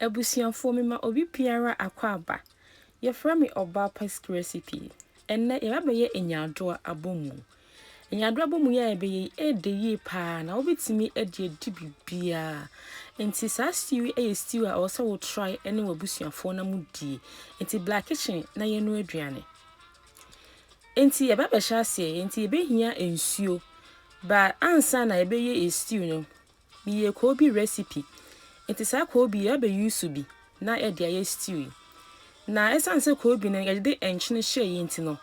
Abusuafoɔ mema obi biara akwaaba. Yɛfrɛ me Ɔbaa Paski Recipe. Ɛnnɛ yɛba bɛyɛ Nyaadoa abɔmu. Nyaadoa abɔmu yi a yɛbɛyɛ yi ɛɛdɛ yie paa na wobɛtumi de adi biribiara. Nti saa stew yi yɛ stew a ɛwɔ sɛ wo try ne w'abusuafoɔ na mo die. Nti bla kitchen na yɛn no aduane. Nti yɛba bɛhyɛ aseɛ, nti yɛbɛhia nsuo. Ba ansa na yɛbɛyɛ stew no, Meyɛɛ koobi rɛsipi, enti saa koobi yi yɛabɛ use bi na yɛde ayɛ stew yi. Na ɛsiane sɛ koobi no yɛde nkyene hyɛeɛ nti no,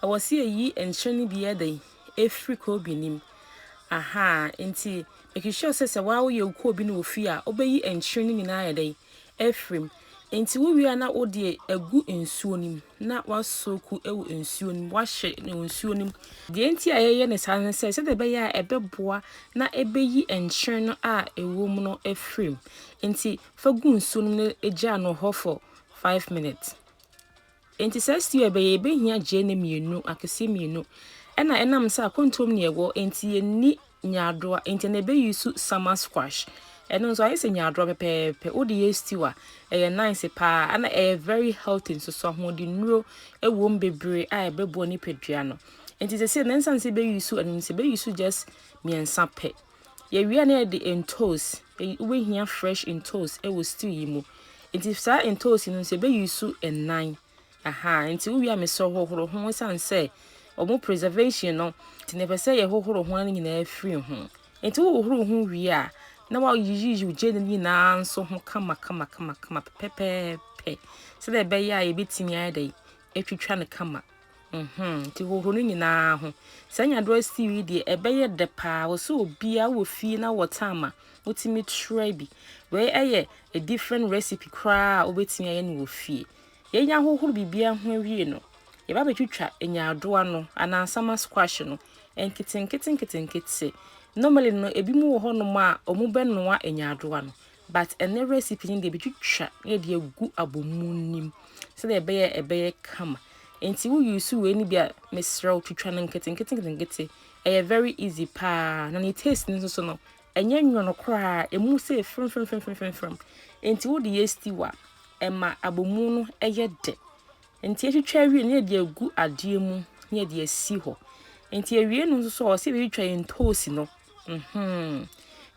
ɛwɔ sɛ yɛyi nkyene no bi yɛ dɛn, ɛfiri koobi no mu. Ahaa, enti make sure sɛ sɛ woayɛ wo koobi no wɔ fie a, wobɛyi nkyene no nyinaa ayɛ dɛn, afiri mu. Enti wowie a na wode agu nsuo no mu na woasoku wɔ nsuo no mu, woahye no wɔ nsuo no mu. Deɛ enti a yɛyɛ no saa ne sɛ, sɛdeɛ ɛbɛyɛ a ɛbɛboa na ɛbɛyi nkyene no a ɛwɔ mu no afiri mu. Enti fa gu nsuo no mu na gyaa no hɔ for five minutes. Enti saa stew a yɛbɛyɛ, yɛbɛhia gyeene mmienu, akɛseɛ mmienu, ɛna ɛnam sɛ akɔntuo mu na yɛwɔ, enti yɛnni nyaadoa, enti ɛna ɛbɛ use summer squash. Ɛno nso ayɛ sɛ nyaadoa pɛpɛɛpɛ, wode yɛ stew a, ɛyɛ nice paa, ɛna ɛyɛ very healthy nso, so ahoɔdennuro ɛwom bebree a ɛbɛboa nipadua no. Enti sɛsɛ na ɛnsan sɛ yɛbɛ use ɛno nti, yɛbɛ use just mmiɛnsa pɛ. Yɛwie na yɛde ntoosi, wobɛhia fresh ntoosi wɔ stew yi mu. Nti saa ntoosi no nso yɛbɛyi su nnan. Aha, nti wowie a mesɛ hohoro ho ɛsiane sɛ wɔn preservation no, nti na ɛpɛ sɛ yɛhohoro ho no nyinaa firi ho. Nti wohohoro ho wie a, na wayiyiyi wo gyeene no nyinaa nso ho kama kama kama kama pɛpɛɛpɛ sɛdeɛ ɛbɛyɛ a yɛbɛtumi ayɛ dɛ atwitwa no kama. Mm-hmm. Nti hohoro no nyinaa ho. Sɛ anya do asiw yi deɛ ɛbɛyɛ dɛ paa. Wɔ sɛ obiara wɔ fie na wɔ time a wotumi try bi. Wei ɛyɛ a different recipe koraa a wobɛtumi ayɛ no wɔ fie. Yɛn ahohoro biribiara ho awie no, yɛba bɛtwitwa nyaadoa no anaa nsama squash no nketenkete nketenkete. Normally no, ebinom wɔ hɔnom a wɔbɛnoa nyaadoa no. But ɛnɛ recipe no deɛ bɛtwitwa na yɛde agu abomu nim sɛdeɛ ɛbɛyɛ ɛbɛyɛ kama nti wo use wei no bi a mesrɛ wo twitwa no nketenkete nketenkete ɛyɛ very easy paa na ne taste no nso so no ɛnyɛ nwono koraa ɛmu sɛ frɛmfrɛmfrɛmfrɛmfrɛm nti wode yɛ stew a ɛma abomu no ɛyɛ dɛ Nti yɛtwitwa awie no na yɛde agu adeɛ mu na yɛde asi hɔ. Nti awie no nso so ɔsɛ yɛbɛtwitwa yɛn ntoosi no. Mm-hmm.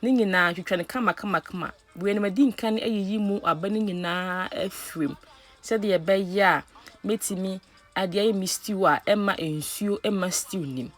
Ne nyinaa twitwa no kama kama kama. Wei no madi nkan ayiyi mu aba no nyinaa afirim sɛdeɛ ɛbɛyɛ a mɛtumi adeɛ ayɛ me stew a ɛma nsuo ɛma stew nim.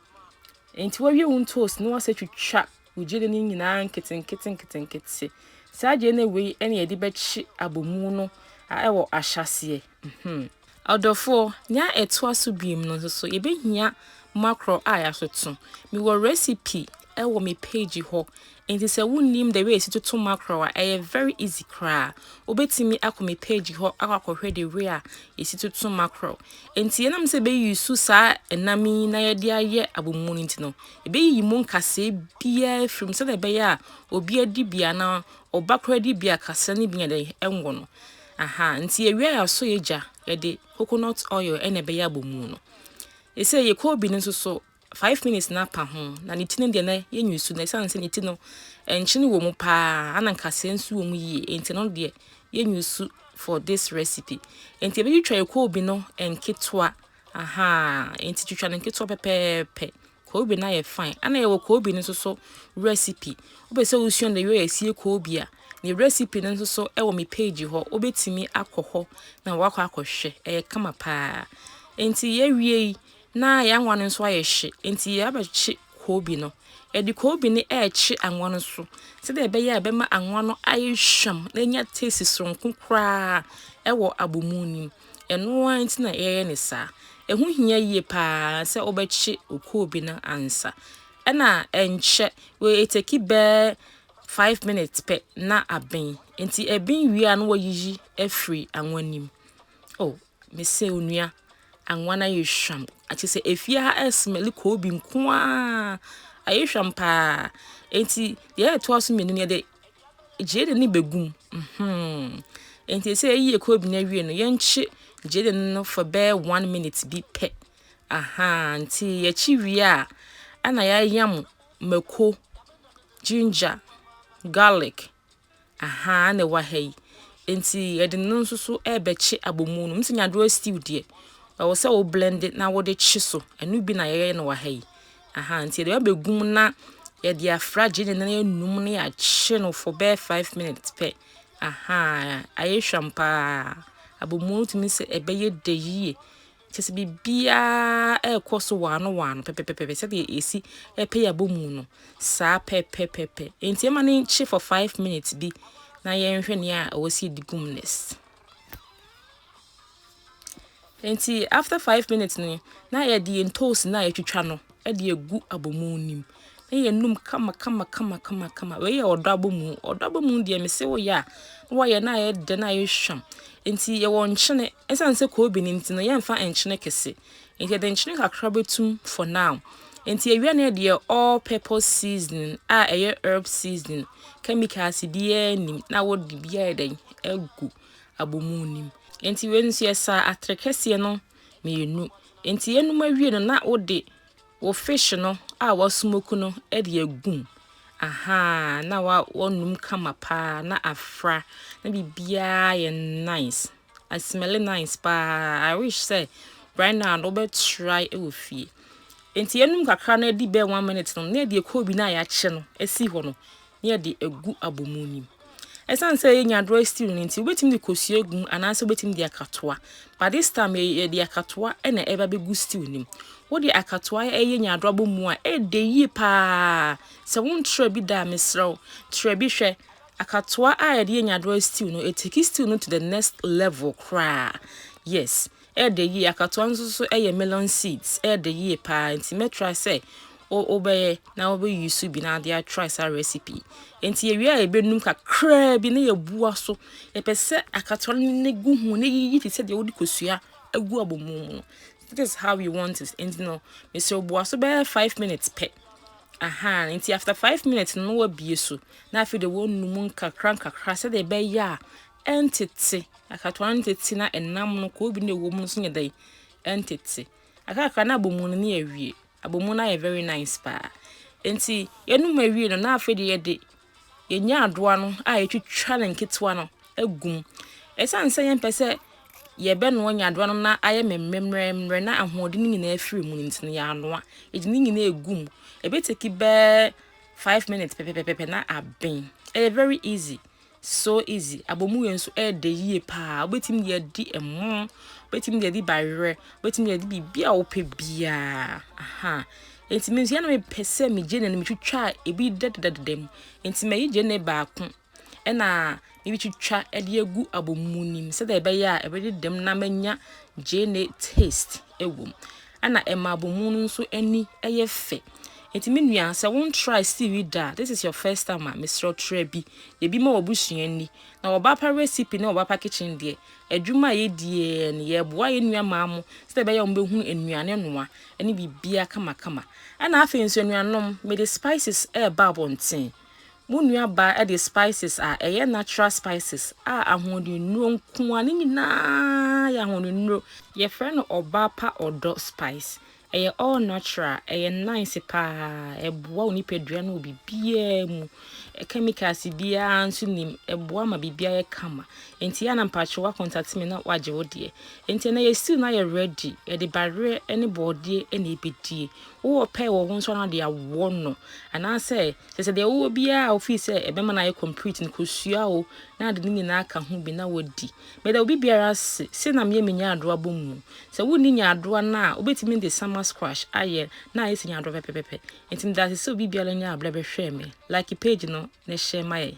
Nti wawie wo ntoosi no wasɛ twitwa Wo gyedie no nyinaa nketenkete nketenkete. Saa gyedie no wei na yɛde bɛkye abomu no a ɛwɔ ahyɛaseɛ. Mhmm. Ɔdɔfoɔ, nea ɛtoa so biom no nso so yɛbɛhia makorɔ a yɛatoto. Mewɔ recipe wɔ me page hɔ, enti sɛ wonnim the way yɛsi toto makorɔ a, ɛyɛ very easy koraa. Wobɛtumi akɔ me page hɔ akɔ akɔhwɛ the way a yɛsi toto makorɔ. Enti yɛnam sɛ yɛbɛuse saa ɛnam yi na yɛde ayɛ abomu no nti no, Ebeyiyi mu nkasɛɛ biara afiri mu sɛdeɛ ɛbɛyɛ a obi adi bi anaa ɔba koraa di bi a kasɛɛ no bi nyɛ dɛn ɛnwo no. Aha, nti yɛwie a yɛasɔ yɛn gya, yɛde coconut oil ɛna ɛbɛyɛ abɔ mu no. Ɛsɛ yɛ koobi no nso so, five minutes na apa ho, na ne ti no deɛ na yɛnyi so, na ɛsiane sɛ ne ti no nkyene wɔ mu paa, ana nkasɛɛ nso wɔ mu yie, nti no deɛ yɛnyi so for this recipe. Nti yɛbɛtwitwa yɛ koobi no nketewa. Ahaa, enti twitwa no nketewa pɛpɛɛpɛ. Koobi no ayɛ fine. Ana yɛwɔ koobi no nso so recipe. Wopɛ sɛ wosua the way yɛsie koobi a, ne recipe no nso so wɔ me page hɔ. Wobɛtumi akɔ hɔ na wakɔ akɔhwɛ. Ɛyɛ kama paa. Enti yɛawie yi, na yɛanwa no nso ayɛ hye. Enti yɛabɛkye koobi no. Yɛde koobi no ɛrekye anwa no so. Sɛdeɛ ɛbɛyɛ a ɛbɛma anwa no ayɛ hwam na anya taste soronko koraa ɛwɔ abomu no mu. Ɛno ara nti na yɛyɛ no saa. Ɛho hia yie pa ara sɛ wobɛkye okuo bi no ansa. Ɛna ɛnkyɛ, wei ɛteki bɛɛ five minutes pɛ na aben. Nti ɛben wie a na wayiyi afiri anwa no mu. Oh, mesɛ onua, anwa no ayɛ hwam. Kyerɛ sɛ efie ha ɛsmɛli koobi nko ara. Ayɛ hwam pa ara. Nti deɛ ɛtoa so mmienu no yɛde gyeene no bɛgu mu. Nti sɛ yɛyi ɛkuro bi no awie no, yɛnkye gyeene no for bɛyɛ one minute bi pɛ. Aha, nti yɛkye wie a, ɛna yɛayam mako, ginger, garlic, aha ɛna ɛwɔ ha yi. Nti yɛde no nso so rebɛkye abomu no. Nti nyaadowa stew deɛ, ɛwɔ sɛ wo blende na wode kye so. Ɛno bi na yɛyɛ no wɔ ha yi. Ahaa nti yɛde ba bɛgu mu na yɛde afra gyeene no anum na yɛakye no for bɛyɛ five minutes pɛ. Ahaa ayɛ hwam paa. Abomuo no tumi sɛ ɛbɛyɛ dɛ yie. Kyɛ sɛ biribiara ɛrekɔ so waano waano pɛpɛpɛpɛ sɛdeɛ yɛsi ɛpɛ yɛ abomuo no saa pɛpɛpɛpɛ. Nti ɛma no nkye for five minutes bi na yɛnhwɛ nea ɛwɔ sɛ yɛde gu mu next. Enti after five minutes ni na yɛde yɛn toast na yɛtwitwa no de agu abomu nim. Na yɛnum kama kama kama kama kama. Wei yɛ ɔdɔ abomu. Ɔdɔ abomu deɛ mese wo yɛ a na wɔyɛ na ayɛ dɛ na ayɛ hwam. Enti yɛwɔ nkyene. Ɛsan sɛ kobi ne nti no yɛmfa nkyene kɛse. Enti yɛde nkyene kakra bɛtum for now. Enti awia no deɛ all purpose seasoning a ɛyɛ herb seasoning chemicals biara nim na wɔde biara yɛ dɛn agu abomu nim. Enti wei nso yɛsa atere kɛseɛ no mmienu. Enti yɛnum awie no na wode wo fish no a wasmoke no de agum. Aha na wa wɔnum kama paa na afra na biribiara yɛ nice. I smell it nice paa. I wish sɛ right now no wobɛ try wɔ fie. Nti yɛnum kakra na adi bɛɛ one minute no na yɛde ɛkɔɔ bi no a yɛakyɛ no asi hɔ no na yɛde agu abɔmu nim. Ɛsiane sɛ yɛ nyadorɔ stew no nti wobɛtumi de kosua gu mu anaasɛ wobɛtumi de akatoa. But this time yɛde akatoa na ɛba bɛgu stew nim. Wode akatoa ɛyɛ nyadorɔ abɔmu a ɛdɛ yie paa. Sɛ wontrɛ bi da a mesrɛ wo trɛ bi hwɛ. Akatoa a yɛde yɛ nyadoa stew no, it takes stew no to the next level koraa. Yes, ɛyɛ dɛ yie. Akatoa no nso so ɛyɛ melon seeds. Ɛyɛ dɛ yie paa. Nti mɛtra sɛ wobɛyɛ na wobɛyi so bi na ade atry saa recipe. Nti yɛwie a yɛbɛnum kakraa bi na yɛbua so. Yɛpɛ sɛ akatoa no ne gu ho na yiyi te sɛ deɛ wode kosua agu abɔmu mu no. That is how you want it. Nti no, mesrɛ bua so bɛyɛ five minutes pɛ. Ahaa nti after five minutes no wabie so na afei de wɔnu mu nkakra nkakra sɛdeɛ ɛbɛyɛ a ɛntete akatoa no ntete na ɛnam no koobi na ɛwɔ mu no so nyɛ dɛn ɛntete akakra na abomu no ne awie abomu no ayɛ very nice paa nti yɛnum awie no na afei de yɛde yenya adowa no a yetwitwa no nketewa no gu mu. Esiane sɛ yɛmpɛ sɛ yɛbɛnoa nyaadowa no na ayɛ mmerɛmmerɛ na ahoɔden no nyinaa afiri mu no nti no, yɛanoa. Yɛde ne nyinaa gu mu. Ɛbɛteki bɛɛ five minutes pɛpɛpɛpɛ na aben. Ɛyɛ very easy. So easy. Abomu yɛ nso ɛyɛ dɛ yie paa. Wobɛtumi de adi ɛmo, wobɛtumi de adi bayerɛ, wobɛtumi de adi biribi a wopɛ biara. Aha. Enti me nso yɛ na mepɛ sɛ megye ne no metwitwa ebi dɛdɛdɛdɛdɛ mu. Enti mayi gye ne baako na meretwitwa de agu abomu no mu sɛdeɛ ɛbɛyɛ a ɛbɛdedam na manya gye ne taste wɔ mu. Ɛna ɛma abomu no nso ani yɛ fɛ. Enti me nua sɛ won try stew yi da this is your first time a mesrɛ try bi. Ebi ma wɔbusua ni. Na wɔba pa recipe ne wɔba pa kitchen deɛ adwuma a yɛdie no yɛboa yɛn nua maa mo sɛdeɛ ɛbɛyɛ a wɔbɛhunu nnuane noa ne biribiara kamakama. Ɛnna afei nso, anuanom, mede spices reba abɔnten. Mo nuabaa de spices a ɛyɛ natural spices a ahoɔdennuro nko ara, ne nyinaa yɛ ahoɔdennuro. Yɛfrɛ no ɔbaa pa ɔdɔ spice. Ɛyɛ all natural, ɛyɛ nice paa, ɛboa wo nipadua no wɔ biribiara mu. Chemicals biara nso nim, ɛboa ma biribiara yɛ kama. Enti yɛ a na mpakyɛ woakɔntate me na woagye wo deɛ. Enti ɛnnɛ yɛsiw no ayɛ ready, yɛde baweɛ ne bɔɔdeɛ na ɛbɛdie. Wowɔ pɛɛ wɔ wo nso anaa de awɔ no, anaasɛ kyerɛ sɛ deɛ wowɔ biara a wofii sɛ ɛbɛma no ayɛ complete no kɔsua o na de ne nyinaa ka ho bi na wadi. Meda obi biara ase, sei na meyɛ me nyaadoa bɔ mu. Sɛ wonni nyaadoa no a, wobɛtumi de summer squash ayɛ na ayɛ sɛ nyaadoa pɛpɛpɛpɛ. Enti meda ase sɛ obi biara nyaa berɛ bɛhwɛɛ me. Like page no na hyɛ ma yɛn.